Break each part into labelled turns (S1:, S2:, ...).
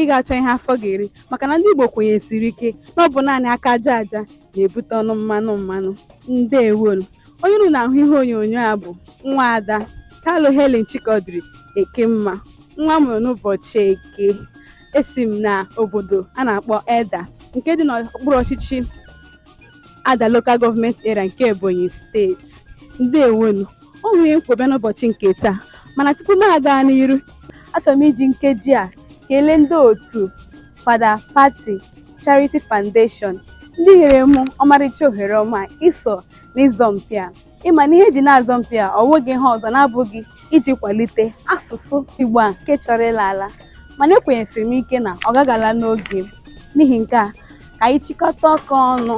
S1: ị ga-achọ ihe afọ ga-eri maka na ndị Igbo kwenyesiri ike na ọ bụ naanị aka aja aja na-ebute ọnụ mmanụ mmanụ ndewonu onye unu na-ahụ ihe onyonyo a bụ nwa ada Kalu Helen Chikodiri Ekemma nwa a mụrụ n'ụbọchị eke esi m na obodo a na-akpọ Eda nke dị n'okpuru ọchịchị Edda Local Government Area nke Ebonyi steeti ndewonu o nwere ihe m kwọ bịa n'ụbọchị nke taa mana tupu m aga n'iru achọrọ m iji nkeji a kelee ndị otu Fada Pati Charity Foundation ndị nyere m ọmarịcha ohere ọma iso n'ịzọmpi a ịma na ihe eji na-azọmpi a ọ nweghị ihe ọzọ na-abụghị iji kwalite asụsụ Igbo a nke chọrọ ịla ala mana ekwenyesiri m ike na ọ gaghị ala n'oge n'ihi nke a ka anyị chịkọta aka ọnụ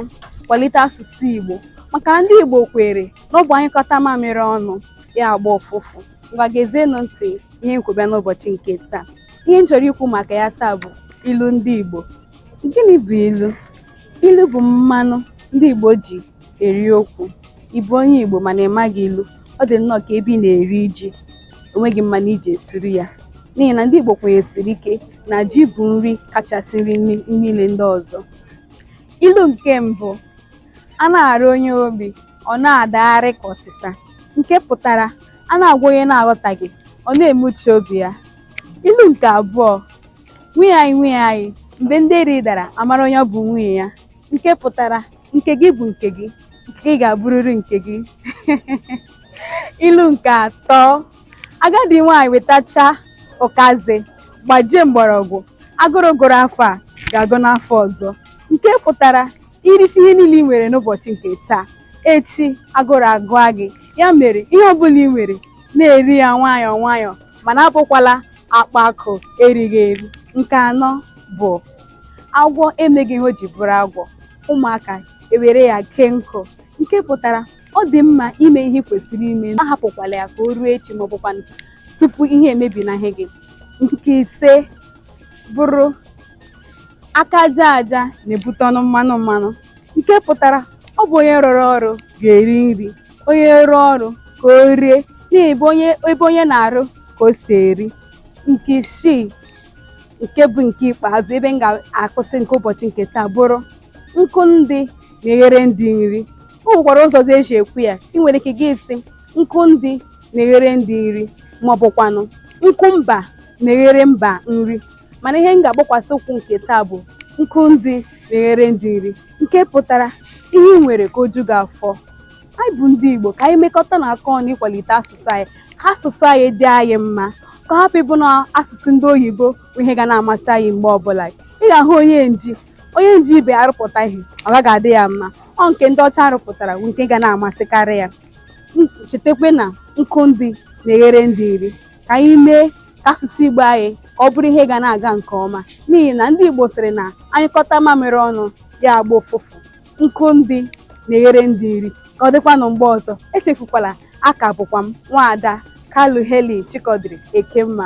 S1: kwalite asụsụ Igbo maka na ndị Igbo kwere n'ọ bụ a nyụkọta mamịrị ọnụ ya agba ụfụfụ ngwa gezienụ ntị ihe m kwọ bịa n'ụbọchị nke taa ihe m chọrọ ikwu maka ya taa bụ ilu ndị Igbo gịnị bụ ilu ilu bụ mmanụ ndị Igbo ji eri okwu ị bụ onye Igbo mana ị maghị ilu ọ dị nnọọ ka ebe ị na-eri ji enweghị mmanụ i ji esuru ya n'ihi na ndị Igbo kwenyesiri ike na ji bụ nri kachasị nri niile ndị ọzọ ilu nke mbụ a na-arụ onye obi ọ na-adagharị ka ọsịsa nke pụtara a na-agwa onye na-aghọtaghị ọ na-emechi obi ya ilu nke abụọ nwunye anyị nwunye anyị mgbe ndeeri dara a mara onye bụ nwunye ya nke pụtara nke gị bụ nke gị nke gị ga-abụrịrị nke gị ilu nke atọ agadi nwaanyị wetacha ụkazi gbajie mgbọrọgwụ agụrụ gụrụ afọ a ga-agụ n'afọ ọzọ nke pụtara i richa ihe niile ị nwere n'ụbọchị nke taa echi agụrụ agụa gị ya mere ihe ọbụla ị nwere na-eri ya nwayọọ nwayọọ mana abụkwala ọkpa akụ erighị eri nke anọ bụ agwọ emeghị ihe o ji bụrụ agwọ ụmụaka ewere ya kee nkụ nke pụtara ọ dị mma ime ihe kwesịrị ime ahapụkwala ya ka o ruo echi ma ọ bụkwa tupu ihe emebinahụ gị nke ise bụrụ aka aja aja na-ebute ọnụ mmanụ mmanụ nke pụtara ọ bụ onye rụrụ ọrụ ga-eri nri onye rụọ ọrụ ka o rie n'ihi ebe onye na-arụ ka o si eri nke isii nke bụ nke ikpeazụ ebe m ga-akwụsị nke ụbọchị nke taa bụrụ nkụ ndị na-eghere ndị nri o nwekwara ụzọ ọzọ eji ekwu ya ị nwere ike gị asị nkụ ndị na-eghere ndị nri ma ọ bụkwanụ nkụ mba na-eghere mba nri mana ihe m ga-agbakwasị ụkwụ nke taa bụ nkụ ndị na-eghere ndị nri nke pụtara ihe ị nwere ka o ju gị afọ anyị bụ ndị Igbo ka anyị mekọta na aka ọnụ ịkwalite asụsụ anyị ka asụsụ anyị dị anyị mma ka ọ hapụ ịbụ na asụsụ ndị oyibo bụ ihe ga na-amasị anyị mgbe ọbụla ị ga-ahụ onye nji onye nji ibe arụpụta ihe ọ gaghị adị ya mma ọ nke ndị ọcha rụpụtara bụ nke ga na-amasịkarị ya chetakwa na nkụ ndị na-eghere ndị nri ka anyị mee ka asụsụ Igbo anyị ka ọ bụrụ ihe ga na-aga nke ọma n'ihi na ndị Igbo sịrị na a nyụkọta mamịrị ọnụ ya agba ụfụfụ nkụ ndị na-eghere ndị nri ka ọ dịkwanụ mgbe ọzọ echefukwala a ka bụkwa m nwaada Kalu Helen Chikodiri Ekemma